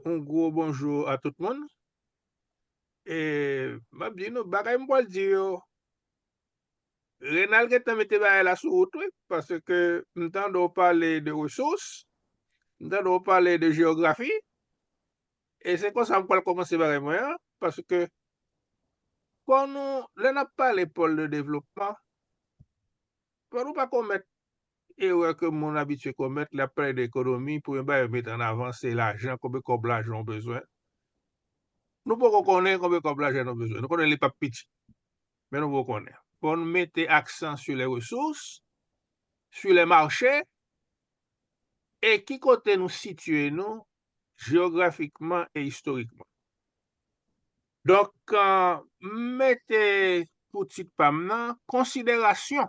Yon gwo bonjou a tout moun. E m ap di nou bagay m pwal di yo Renal gentan mete bagay la sou wout wi paske m tande w pale de resous m tande w pale de jeyografi e se konsa m pwal kòmanse bagay mwen an paske fò nou lè n ap pale pòl de devlopman fò nou pa komèt Erè ke moun abitye komèt lè yap pale de ekonomi, premye bagay yo met an avan se lajan, konbe kòb lajan ou bezwen. Nou poko konnen konbe kòb lajan nou bezwen. Nou konnen li pap piti. Men nou poko konnen. Fò nou mete aksan su lè resous, su lè mache, e ki kote nou sitye nou jeografikman e istorikman. Donk, m mete pou tit pa m nan, konsiderasyon.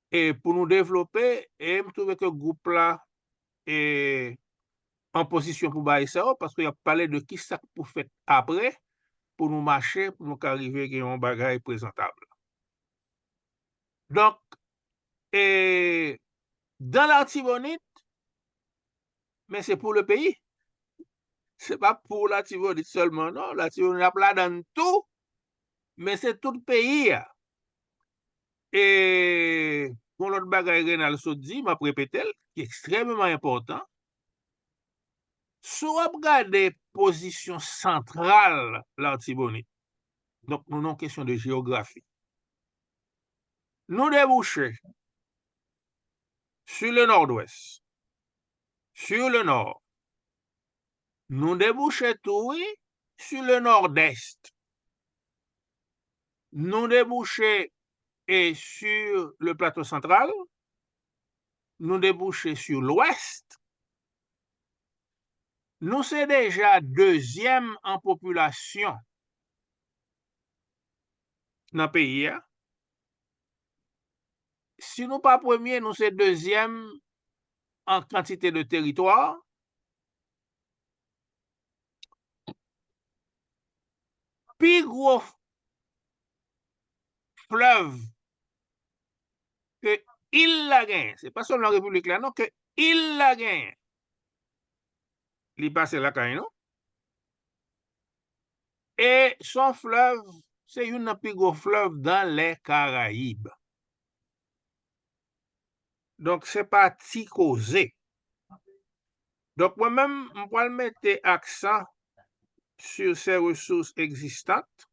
E pou nou devlope e m twouve ke gwoup la e an pozisyon pou bay sa yo paske y ap pale de ki sa k pou fèt apre pou nou mache pou nou ka rive gen yon bagay prezantab. Donk e dan Latibonit men se pou le peyi se pa pou Latibonit sèlman non Latibonit ap ladann tou men se tout peyi a E gon lòt bagay Renal sot di, m ap repete l, ki ekstrèmeman enpòtan, si w ap gade pozisyon santral Latibonit, donk nou nan yon kesyon de jeyografi, nou debouche si le nòdwès, si le nò, nou debouche tou wi si le nòdèst. nou debouche e su le plato santral, nou debouche su lwèst, nou se deja dezyèm an popilasyon nan peyi a, si nou pa premye nou se dezyèm an kantite de teritwa, Pi gwo flèv ke il la genyen, se pa sèlman repiblik la non, ke il la genyen, li pase lakay nou, e son flèv, se youn nan pi gwo flèv dan lè Karayib. Donk se pa ti koze. Donk mwen menm m pral mete aksan sur ces ressources existantes,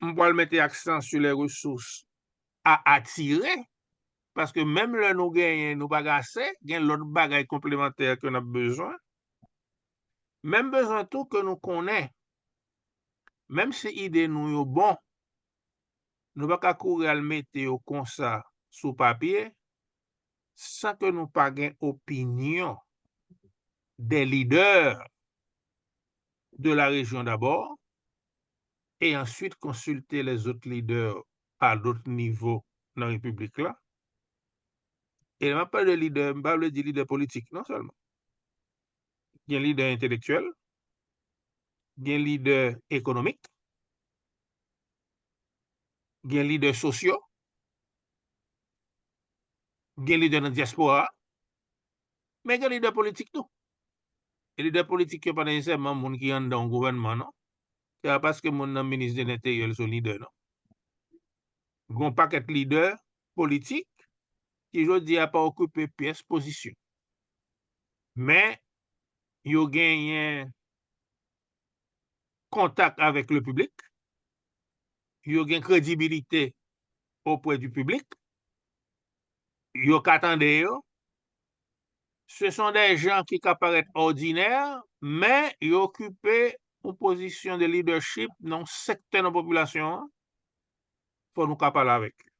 m pral mete aksan sur les ressources à attirer, paske menm lè nou genyen nou pa gen ase, gen lòt bagay konplemantè ke n ap bezwen. Men m bezwen tou ke nou konnen, menm si ide nou yo bon, Nou pa ka kouri al mete yo konsa sou papye san ke nou pa gen opinyon des leaders de la région d'abord et ensuite consulter les autres leaders à d'autres niveaux nan Repiblik la. E lè m ap pale de lidè, m pa vle di lidè politik non sèlman. Gen lidè entelektyèl, gen lidè ekonomik, gen lidè sosyo, gen lidè nan dyaspora, men gen lidè politik tou. E lidè politik yo pa nesesèman moun ki anndan yon gouvènman non. Se pa paske moun nan minis de lenteryè l se yon lidè non. Gen yon pakèt lidè politik ki jodi a pa okipe pyès pozisyon. Men yo genyen kontak avèk le piblik, yo gen kredibilite opwè di piblik, yo ka tande yo, se son dè jan ki ka parèt òdinè, men yo okipe yon pozisyon de lidèchip nan yon sektè nan popilasyon an, fò nou ka pale avèk yo.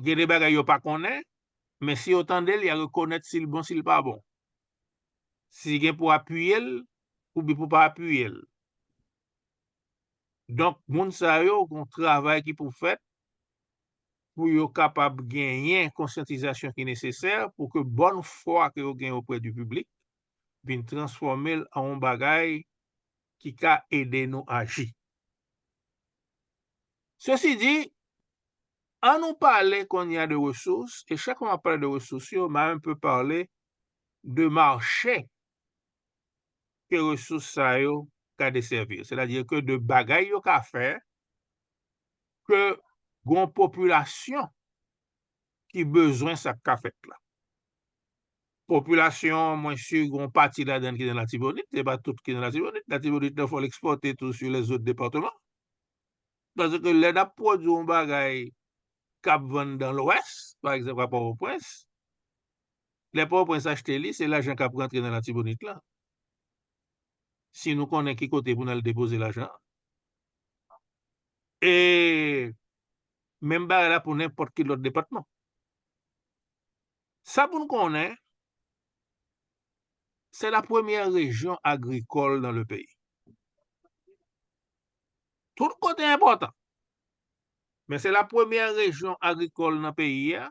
Gen de bagay yo pa konnen, men si yo tande l, y a rekonèt si l bon, si l pa bon. si gen pou apiye l oubyen pou pa apiye l. Donk moun sa yo gen yon travay ki pou fèt pou yo kapab genyen konsyantizasyon ki nesesè pou ke bòn fwa ke yo gen oprè di piblik vin transfòme l an yon bagay ki ka ede nou aji. Sesi di, an nou pale kounye a de resous e chak fwa m ap pale de resous yo m a un peu parle de marche ke resous sa yo ka desèvi. Sètadi ke de bagay yo ka fè ke gon popilasyon ki bezwen sa k ka fèt la. Popilasyon an mwen si gon pati ladan l ki nan Latibonit, se pa tout ki nan Latibonit. Latibonit nan fò l ekspòte tou si lè zòt depatman. Paske lè n ap pwodui yon bagay k ap vann dan lwès, pa egzanp a Pòtoprens, Lè Pòtoprens achte li, se lajan k ap rantre nan Latibonit lan. Si nou konnen ki kote pou n al depoze lajan an. E menm bagay la pou nenpòt ki lòt depatman. Sa pou n konnen, se la premyè rejyon agrikòl nan le peyi. Tout kote enpòtan. Men se la premyè rejyon agrikòl nan peyi a.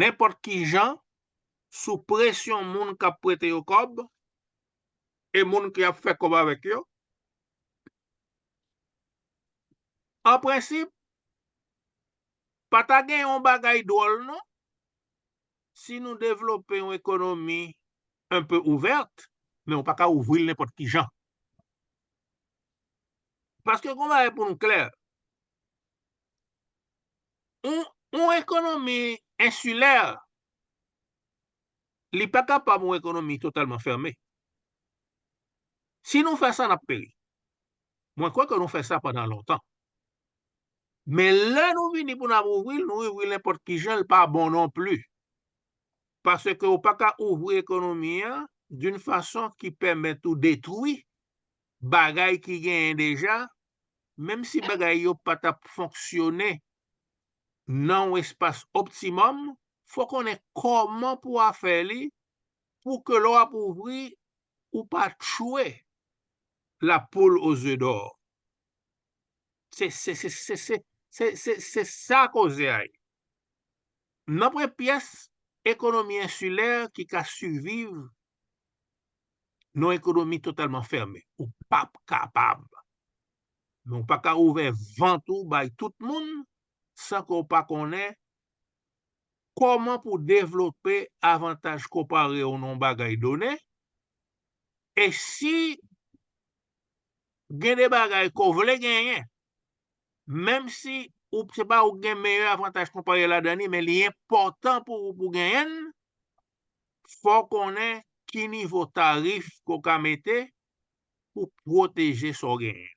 nenpòt ki jan, sou presyon moun k ap prete yo kòb e moun ki ap fè kòb avèk yo, an prensip, pa ta gen yon bagay dwòl non si nou devlope yon ekonomi enpe ouvèt, men ou pa ka ouvri l nenpòt ki jan. Paske gen yon bagay pou nou klè, Yon ekonomi ensilè, li pa kapab yon ekonomi totalman fèmen. Si nou fè sa, n ap peri. Mwen kwè ke nou fè sa pandan lontan. Men lè nou vini pou n ap ouvri l, nou ouvri l nenpòt ki jan, l pa bon non pli. Paske ou pa ka ouvri ekonomi an doun fason ki pèmèt ou detwi bagay ki genyen deja, menm si bagay yo pa t ap fonksyone nan yon espas optimòm, fò w konnen kòman pou w a fè li pou ke lè w ap ouvri ou pa tchwe la poul o ze dò. Se se se se se se se se sa koze a ye. Nanpwen pyès ekonomi ensilè ki ka siviv Yon ekonomi totalman fèmen, ou pap kapab. Men ou pa ka ouvè vant ou bay tout moun san ke w pa konnen kòman pou w devlope avantaj konpare w nan yon bagay done e si gen de bagay ke w vle genyen menm si se pa ou ki gen meyè avantaj konpare ladan li men li enpòtan pou ou pou w genyen l fò w konnen ki nivo tarif ke w ka mete pou w pwoteje sa w genyen.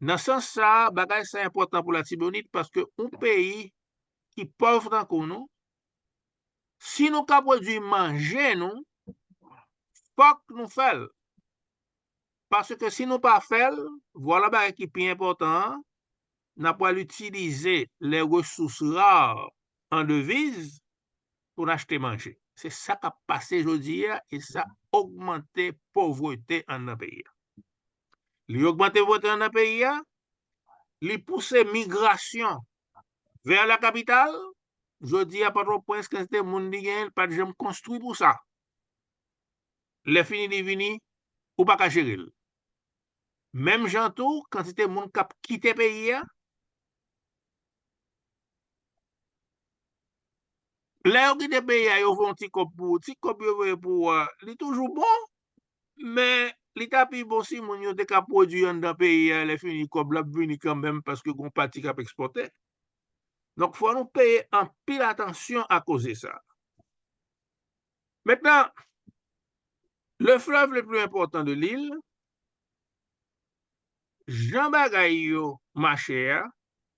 Nan sans sa a, bagay sa enpòtan pou Latibonit paske yon peyi ki pòv tankou nou, si nou ka pwodui manje nou, fòk nou fè l. Paske si nou pa fè l, vwala bagay ki pi enpòtan an, n ap pral itilize les ressources rares en devises, pou n achte manje. Se sa k ap pase jodi a e sa ogmante povrete anndan peyi a. Li ogmante povrete anndan peyi a, li pouse migrasyon vè lakapital. Jodi a Pòtoprens, kantite moun li genyen, li pa t janm konstwi pou sa. Lèfini li vini, ou pa ka jere l. Menm jan tou, kantite moun k ap kite peyi a, Lè yo kite peyi a yo voye ti kòb pou ou, ti kòb yo voye pou ou a li toujou bon, men li ta pi bon si moun yo te ka pwodui anndan peyi a lè fini kòb la ap vini kanmenm paske gon pati kap ekspòte. Donk fò nou peye anpil atansyon a koze sa. Mentnan le fleuve le plus important de l'île jan bagay yo mache a,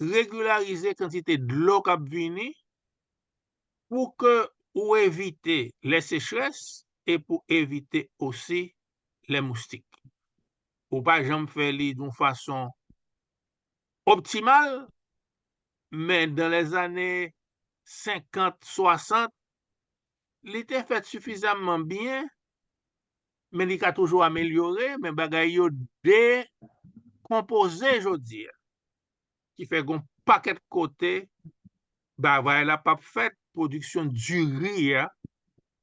regilarize kantite dlo kap vini pou ke ou evite lè sechrès e pou evite osi lè moustik. Ou pa janm fè li doun fason optimal men dan lè zane 50, 60 li te fèt sifizamman byen men li ka toujou amelyore, men bagay yo dekonpoze jodi a, ki fè gon pakèt kote bavay la pap fèt, pwodiksyon diri a,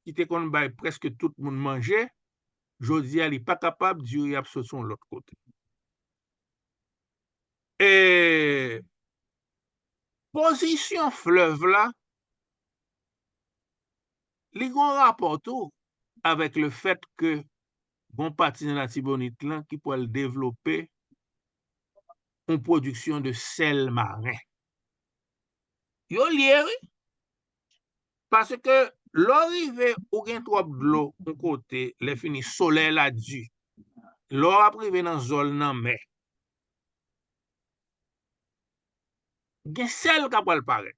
ki te konn bay prèske tout moun manje, jodi a li pa kapab, diri ap soti yon lòt kote. E, pozisyon flèv la, Li gon rapò tou avèk le fèt ke gon pati nan Latibonit lan ki pwal devlope yon pwodiksyon de sèl maren. Yo lye wi, paske lè w rive ou gen twòp dlo yon kote lè fini solèy la di, lè w ap rive nan zòn lanmè, gen sèl ka pwal parèt.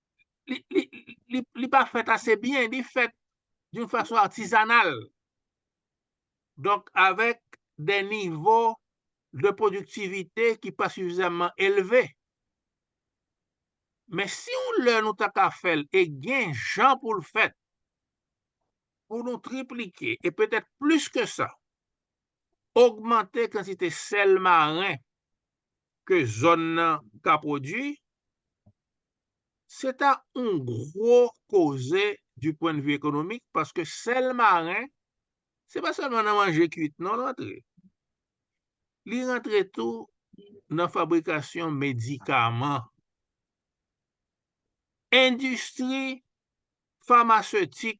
li pa fèt ase byen, li fèt doun fason atizanal. Donk, avèk de nivo de pwodiktivite ki pa sifizamman elve. Men si yon lè nou ta ka fè l, e gen jan pou l fèt, pou nou triplike, e petèt plis ke sa, ogmante kantite sèl maren ke zòn nan ka pwodui, se ta yon gwo koze di pwen de vi ekonomik paske sèl maren, se pa sèlman nan manje kuit non l antre. Li rantre tou nan fabrikasyon medikaman. Endistri famasetik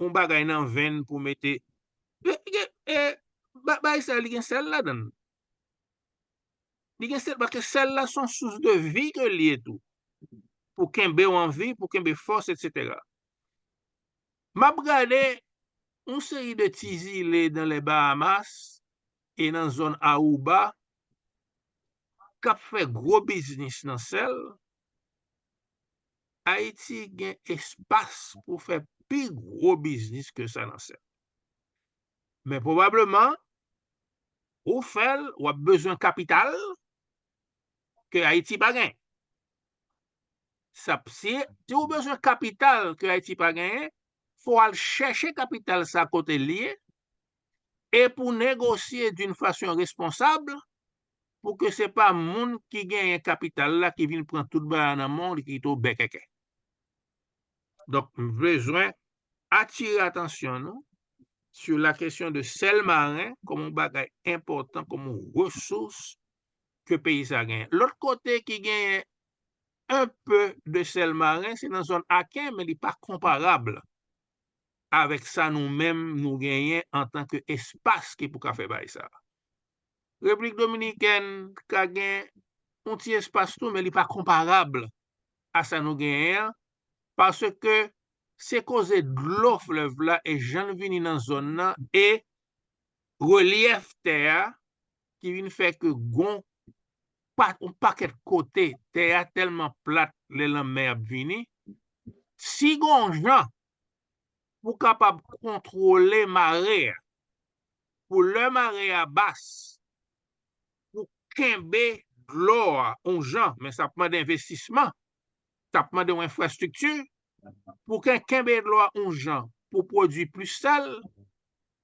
yon bagay nan venn pou mete bay sa li gen sèl ladann li gen sèl paske sèl la son sous de vi ke li ye tou pou kenbew an vi pou kenbe fòs etc map gade yon seri de ti zile nan lè Bahamas e nan zòn Aruba kap fè gwo biznis nan sèl. Ayiti gen espas pou fè pi gwo biznis ke sa nan sèk. Men pwobableman, ou fè l, w ap bezwen kapital ke Ayiti pa gen. Si ou bezwen kapital ke Ayiti pa genyen, fò w al chèche kapital sa kote l ye e pou negosye d'un fason responsab pou ke se pa moun ki genyen kapital la ki vin pran tout bagay nan men w li kite w bèkèkè. Donk m bezwen atire atansyon nou sou la kesyon de sèl maren kòm yon bagay enpòtan, kòm yon resous ke peyi sa genyen. Lòt kote ki genyen enpe de sèl maren se nan zòn Aken men li pa konparab avèk sa nou menm nou genyen antanke espas ki pou ka fè bagay sa a. Repiblik Dominikèn ka gen yon ti espas tou men li pa konparab a sa nou genyen an paske se koze dlo flèv la e jan l vini nan zòn nan e relyèf tè a ki vin fè ke gon yon pakèt kote tè a tèlman plat lè lanmè ap vini si gon jan pou kapab kontwole mare a pou lè mare a bas pou kenbe dlo a yon jan men sa ap mande envestisman sa ap mande yon enfrastrikti pou ke kenbe dlo a yon jan pou pwodui plis sal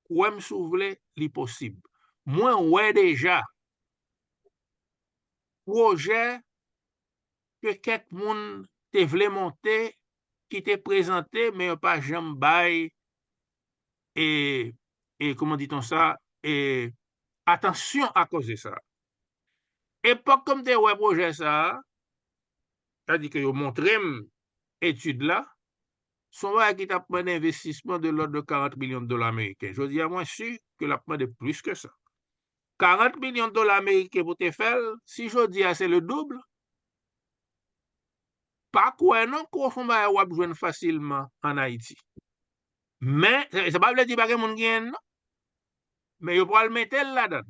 kwè m si w vle li posib mwen wè deja pwojè ke kèk moun te vle monte ki te prezante men yo pa janm bay e kouman dit on sa e atansyon a koze sa. Epòk ke m te wè pwojè sa, sa di ke yo montre m etid la, se yon bagay ki t ap mande envestisman de lòd de 40 milyon dola meriken. Jodi a mwen si ke l ap mande plis ke sa. 40 milyon dola meriken pou te fè l, si jodi a se le double, pa kwè non ke w son bagay w ap jwenn fasilman an Ayiti. Men, sa pa vle di pa gen moun ki gen non. Men yo pral mete l ladan.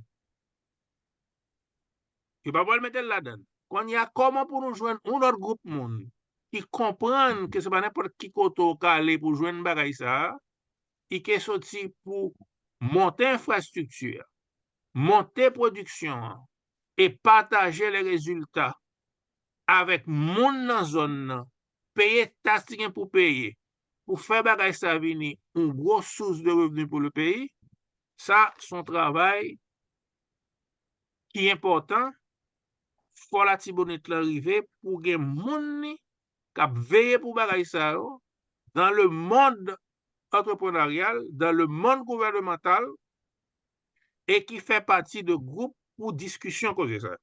Yo pa pral mete l ladan. Kounye a, kòman pou nou jwenn yon lòt gwoup moun ki konprann ke se pa nenpòt ki kote ou ka ale pou jwenn bagay sa a, ki ke soti pou monte enfrastrikti a, monte pwodiksyon an e pataje le rezilta avèk moun nan zòn nan peye taks li gen pou peye pou fè bagay sa vini yon gwo sous de revni pou le peyi, sa se yon travay ki enpòtan, fò latibonit lan rive pou gen moun li k ap veye pou bagay sa yo, dan le mond antreprenaryal, dan le mond gouvènemantal e ki fè pati de gwoup pou diskisyon koze sa yo.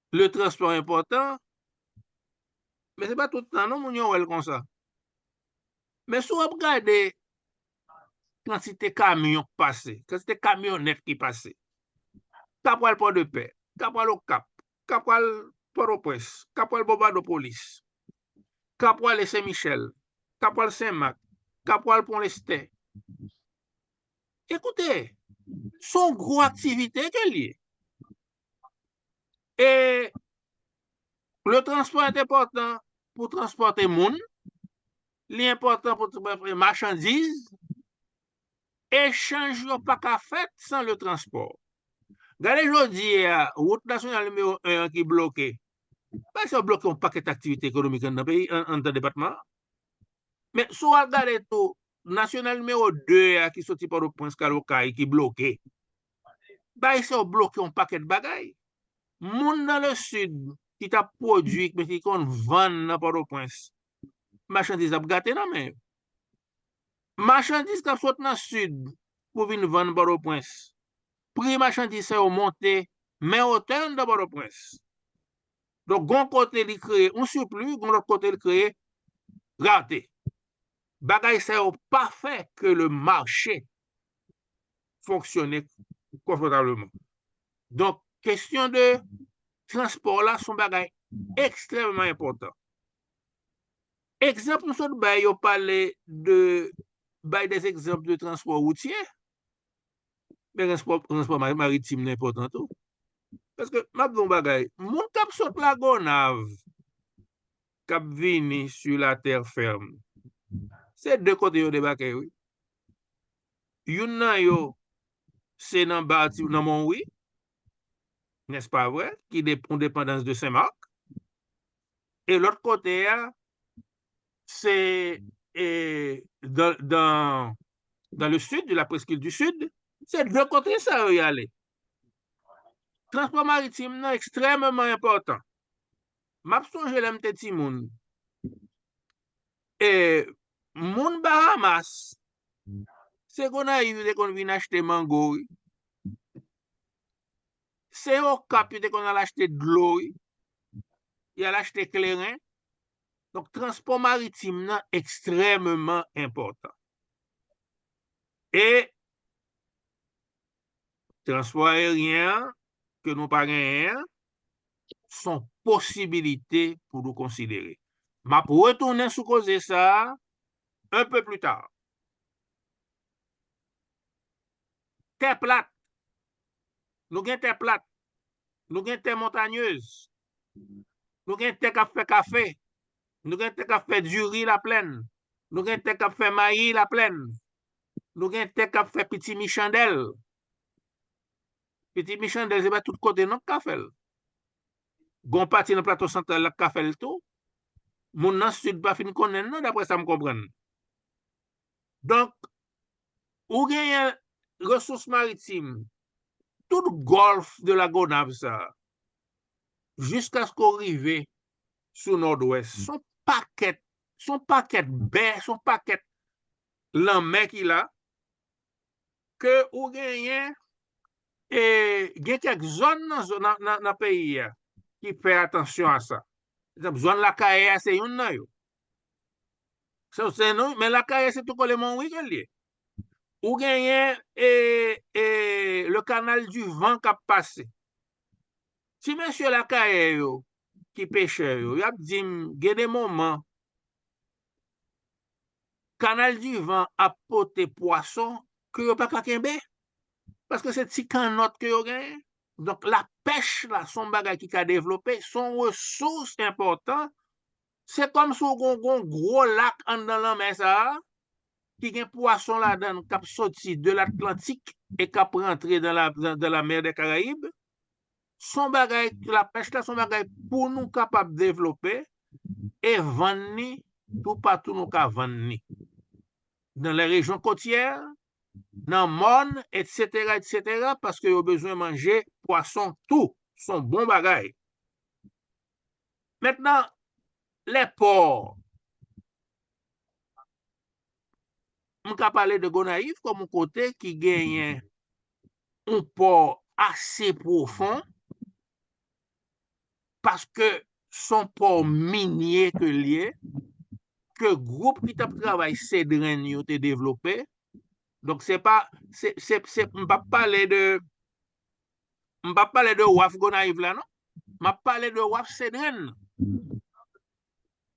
Le transport enpòtan, men se pa tout tan non moun yo wèl konsa. Men si wap gade kantite kamyon k pase, kantite kamyonèt ki pase, ka pwal Pòdepè, ka pwal Okap, ka pwal Pòtoprens, ka pwal Bonbadopolis, ka pwale Sen Michèl, ka pwal Sen Mak, ka pwal Pon Lestè. Ekoute, son gwo aktivite ke l ye. E le transpò et enpòtan pou transpòte moun, li enpòtan pou transpòte machandiz, echanj yo pa ka fèt san le transpò. Gade jodi a, wout nasyonal nimewo 1 an ki bloke, bay sa bloke yon pakèt aktivite ekonomik anndan peyi, anndan depatman an. Men si w al gade tou, nasyonal nimewo 2 a ki soti Pòtoprens kal Okay ki bloke, Bayisè ou bloke yon pakèt bagay. Moun nan le Sid ki ta pwodui men ki konn vann nan Pòtoprens, machandiz ap gate nan men yo. Machandiz k ap sot nan Sid pou vin vann Pòtoprens, pri machandiz sa yo monte men otè anndan Pòtoprens. Donk gon kote li kreye yon sipli, gon lòt kote li kreye rate. Bagay sa yo pa fè ke le mache. fonksyone konfotableman. Donk, kesyon de transpò la son bagay ekstrèmman enpòtan. Ekzanp nou sot bay yo pale de bay des ekzanp de transpò woutyè, men transpò maritim nan enpòtan tou. Paske, m ap di w yon bagay, moun k ap sot la Gonav, k ap vini sou la tè fèm, se de kote yo debake wi. Youn nan yo se nan Bati nan Monwi, nès pa vre, ki de yon depandans de Sen Mak. E lòt kote a se e dan dan le Sid, la Preskil di Sid. Se de kote sa yo y ale. Transpò maritim nan ekstrèmeman enpòtan. M ap sonje lè m te timoun, Moun Bahamas se Gonayiv yo te konn vin achte mango wi. Se Okap yo te konn al achte dlo wi. Yo al achte kleren. Donk transpò maritim nan ekstrèmeman enpòtan. E Transpò aeryen an ke nou pa genyen an son posibilite pou nou konsidere. M ap retounen sou koze sa a un peu plus tard. Tè plat, nou gen tè plat, nou gen tè montanyez, nou gen tè k ap fè kafe, nou gen tè k ap fè diri laplèn, nou gen tè k ap fè mayi laplèn, Nou gen tè kap fè pitimi chandèl. Pitimi chandèl se pa tout kote non ka fèl. Gon pati nan plato santral la ka fèl tou. Moun nan sid pa fin konnen non dapre sa m konprann. Donk, ou genyen resous maritim tout gòlf de la Gonav sa a jiskaske ou rive sou nòdwès. Son pakèt, son pakèt bè, son pakèt lanmè ki la ke ou genyen e gen kèk zòn nan peyi a ki fè atansyon a sa. Ekzanp zòn Lakayè a se youn nan yo. Men Lakayè se tou kole Monwi ke l ye. Ou genyen e e le kanal di van k ap pase. Ti mesye Lakayè yo ki pechè yo y ap di m gen de moman Kanal di van ap pote pwason ke yo pa ka kenbe, paske se ti kannòt ke yo genyen. Donk la pèch la son bagay ki ka devlope, son resous enpòtan, se kòm si w gon gwo lak anndan lanmè sa a, ki gen pwason ladan l kap soti de l'Atlantik e kap rantre dan la mer des Caraïbes, son bagay, la pèch la son bagay pou nou kapab devlope e vann ni tou patou nou ka vann ni. Nan lè rejyon kotyè, nan mòn, etsetera, etsetera, paske yo bezwen manje pwason tou, son bon bagay. Mentnan, lè pò. m ka pale de Gonayiv kòm yon kote ki genyen yon pò ase pwofon, paske se yon pò minye ke l ye, ke gwoup ki t ap travay sedren yo te devlope, donk se pa, se, m p ap pale de, m p ap pale de waf Gonayiv la non, m ap pale de waf sedren nan.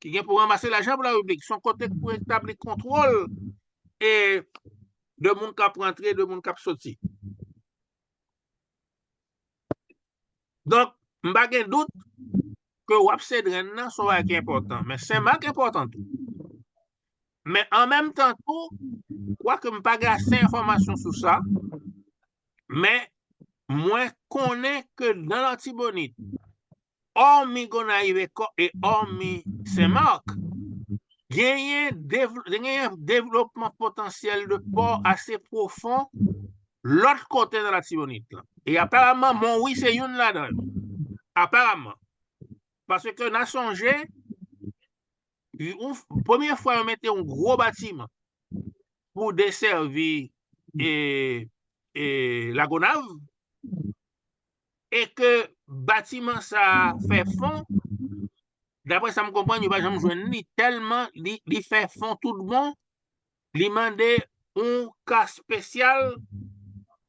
ki gen pou ranmase lajan pou larepiblik, son kote pou etabli kontwòl e de moun k ap rantre, de moun k ap soti. Donk, m pa gen dout ke wap Sedren nan son bagay ki enpòtan, men Senmak enpòtan tou. Men an menm tan tou, kwak m pa gen ase enfòmasyon sou sa, men mwen konnen ke nan Latibonit, òmi Gonayiv e òmi Sen Mak, genyen devlopman potansyèl de pò ase pwofon lòt kote nan Latibonit lan. E aparaman Monwi se youn ladan yo. Aparaman. Paske na sonje, premye fwa yo mete yon gwo batiman pou desèvi Lagonav, e ke batiman sa a fè fon, daprè sa m konprann yo pa janm jwenn li tèlman li fè fon tout bon, li mande yon ka spesyal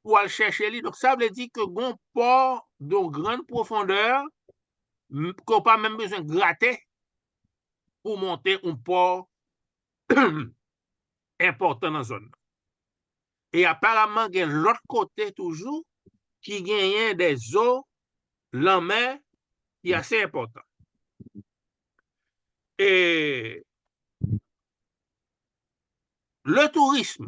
pou al chèche li, donk sa vle di ke gen yon pò dyon gran pwofondè ke w pa menm bezwen grate pou w monte yon pò enpòtan nan zòn nan. E aparamman gen lòt kote toujou ki genyen de zo lanmè ki ase enpòtan. E le tourism.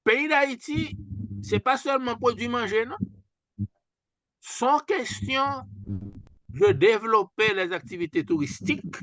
Peyi Dayiti se pa sèlman pwodui manje non. Son kestyon de devlope les aktivite touristik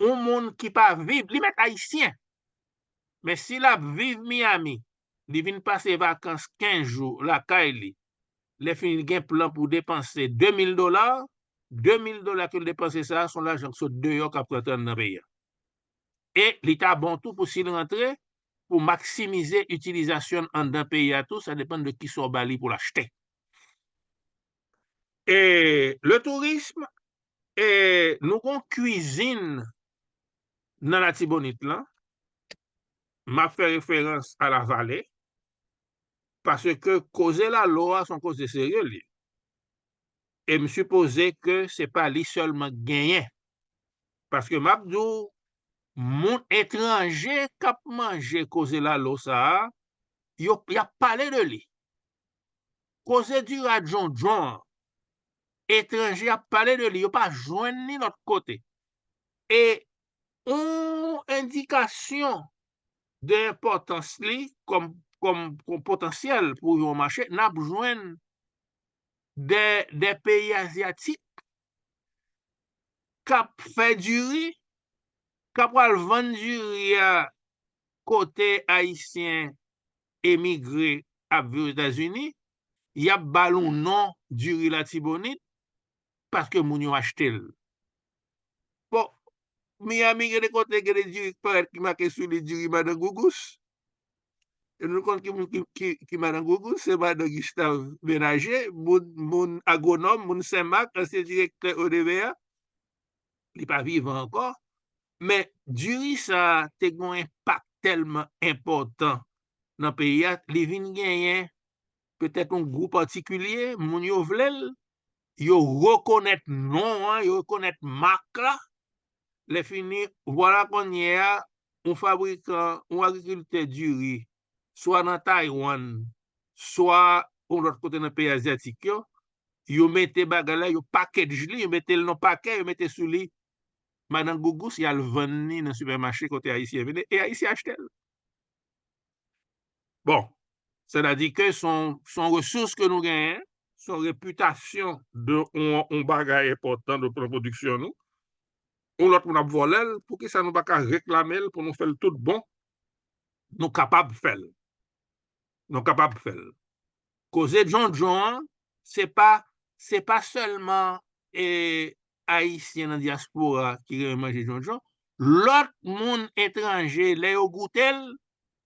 yon moun ki pa viv, li mèt ayisyen, men si l ap viv Miyami, li vin pase vakans 15 jou lakay li, lèfini li gen plan pou depanse 2 mil dola, 2 mil dola ke l depanse sa a, s on lajan ki sot deyò k ap rantre anndan peyi a. E li ta bon tou pou si l rantre, pou maksimize itilizasyon l anndan peyi a tou, sa depann de kisa w ba li pou l achte. E le tourisme, E nou gon kwizin nan Latibonit lan, m ap fè referans a la vale, paske koze lalo a se yon koze serye l ye, e m sipoze ke se pa li sèlman k genyen, paske m ap di w moun etranje k ap manje koze lalo sa a, y ap pale de li, Koze dira djondjon an etranje ap pale de li yo pa jwenn li lòt kote e yon endikasyon de enpòtans li kòm potansyèl pou yon mache n ap jwenn de peyi azyatik k ap fè diri, k ap pral vann diri a kote ayisyen emigre ap viv ozetazini yap bal yon non diri latibonit paske moun yo achtel bon miami gen de kote gen de diri ki parèt ki make sou li diri madan gougous e nou konn ki moun ki madan gougous se madan gistav benaje moun agwonòm moun senmak ansyen direktè odva. li pa vivan ankò, men diri sa te gen yon enpak tèlman enpòtan nan peyi a, li vin genyen petèt yon gou patikilye, moun yo vle l, yo rekonèt non an, yo rekonèt mak la, lèfini, vwala kounyè a, yon fabrikan, yon agrikiltè diri swa nan Taiwan, swa yon lòt kote nan peyi azyatik yo, yo mete bagay la, yo package li, yo mete l nan pake, yo mete sou li madan gougous, y al vann li nan sipèmache kote ayisyen vini, e ayisyen achte l. Bon, sètadi ke s on resous ke nou genyen, s on repitasyon de yon bagay enpòtan nan pwodiksyon nou, yon lòt moun ap vòlè l, poukisa nou pa ka reklame l pou nou fè l tout bon, Nou kapab fèl. Nou kapab fèl. Koze djondjon an, se pa, se pa sèlman e ayisyen nan dyaspora ki renmen manje djondjon, lòt moun etranje lè yo goute l,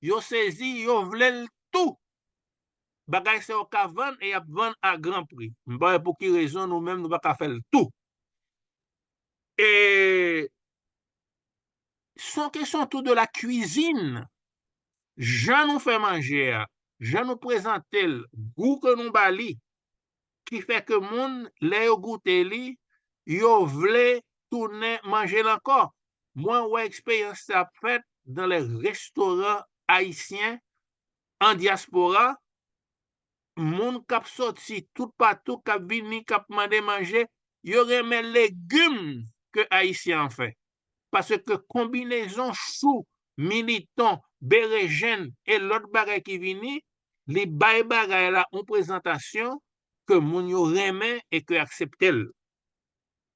yo sezi, yo vle l tou. Bagay sa yo ka vann e y ap vann a gran pri. M pa wè pou ki rezon nou menm nou pa ka fèl tou. E son kesyon tou de la kwizin, jan nou fè manje a, jan nou prezante l, gou ke nou ba li, ki fè ke moun lè yo goute li, yo vle tounen manje l ankò. Mwen wè eksperyans sa ap fèt dan lè restoran ayisyen an dyaspora. moun kap soti tout patou kap vini kap mande manje yo renmen legum ke ayisyen an fè paske konbinezon chou militon berejenn e lot bagay ki vini li bay bagay la on prezantasyon ke moun yo renmen e ke akseptel.